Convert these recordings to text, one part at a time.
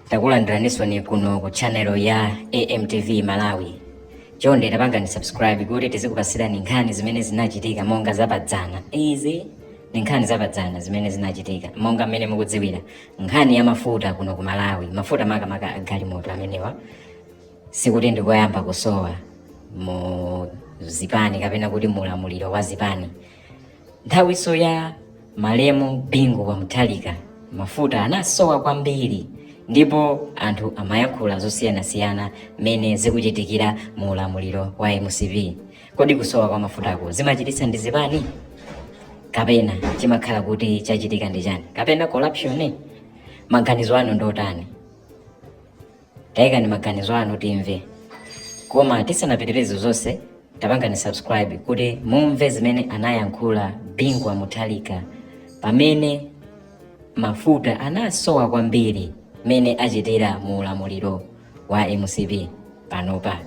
takulandiranisoni kuno ku channel ya amtv malawi chonde tapangani subscribe kuti tizikupasirani nkhani zimene zinachitika monga zapadzana izi ni nkhani zapadzana zimene zinachitika monga mmene mukudziwira nkhani ya mafuta kuno ku malawi mafuta makamaka agalimoto amenewa sikuti ndikoyamba kusowa mu zipani kapena kuti mulamuliro wa zipani nthawiso ya malemu bingu wa Mutharika mafuta anasowa kwambiri ndipo anthu amayankhula zosiyanasiyana mmene zikuchitikira mu ulamuliro wa mcp kodi kusowa kwa mafutako zimachititsa ndi zipani kapena chimakhala kuti chachitika ndi chani kapena corruption maganizo anu ndi otani Taikani maganizo anu timve. Koma tisanapitirizezo zonse, tapangani subscribe kuti mumve zimene anayankhula Bingu wa Mutharika pamene mafuta anasowa kwambiri mene achitira mu ulamuliro wa mcp panopa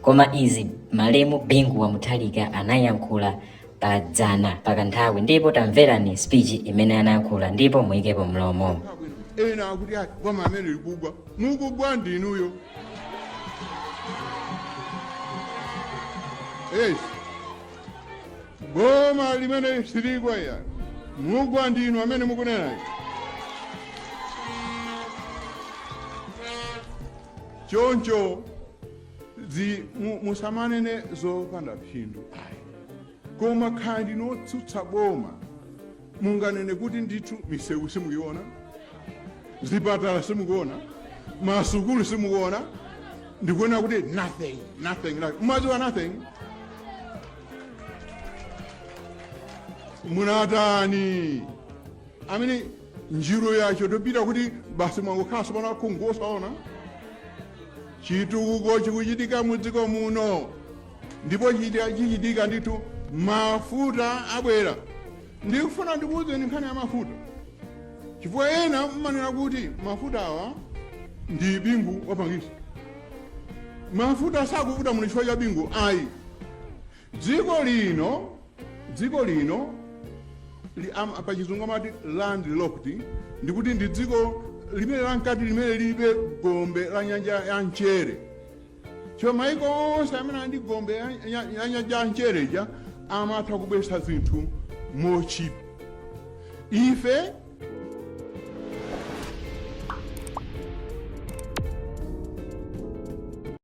koma izi malemu bingu wa mutharika anayankhula padzana pakanthawi ndipo tamverani speech imene anayankhula ndipo muyikepo mlomo ena akuti ati boma limene likugwa mukugwa ndinuyo yes boma limeneli siligwa ayi mugwa ndinu amene mukunenayo choncho dzi mu- musamanene zopanda phindu ayi koma ngakhale ndinu otsutsa boma munganene kuti ndithu misewu simuyiona zipatala simukuona masukulu simukuona ndikumanena kuti nothing nothing nothing. mumadziwa nothing munatani anthu amene njiru yake yopita kuti basi mwangokhala tsopano akhungu osaona Chitukuko chikuchitika mu dziko muno ndipo chichita- chichitika ndithu mafuta abwera ndikufuna ndikuwuzeni nkhani ya mafuta chifukwa ena mmanena kuti mafuta awa ndi bingu wapangisa mafuta sakuvuta muno chifukwa cha bingu ayi Dziko lino, dziko lino li, am, pa chizungu amati landlocked ndi kuti ndi dziko limene lamkati limene lilibe gombe la nyanja ya mchere chifukwa mayiko onse amene ali ndi gombe ya- ya ya nyanja ya mchere ija amatha kubweretsa zinthu mochipa ife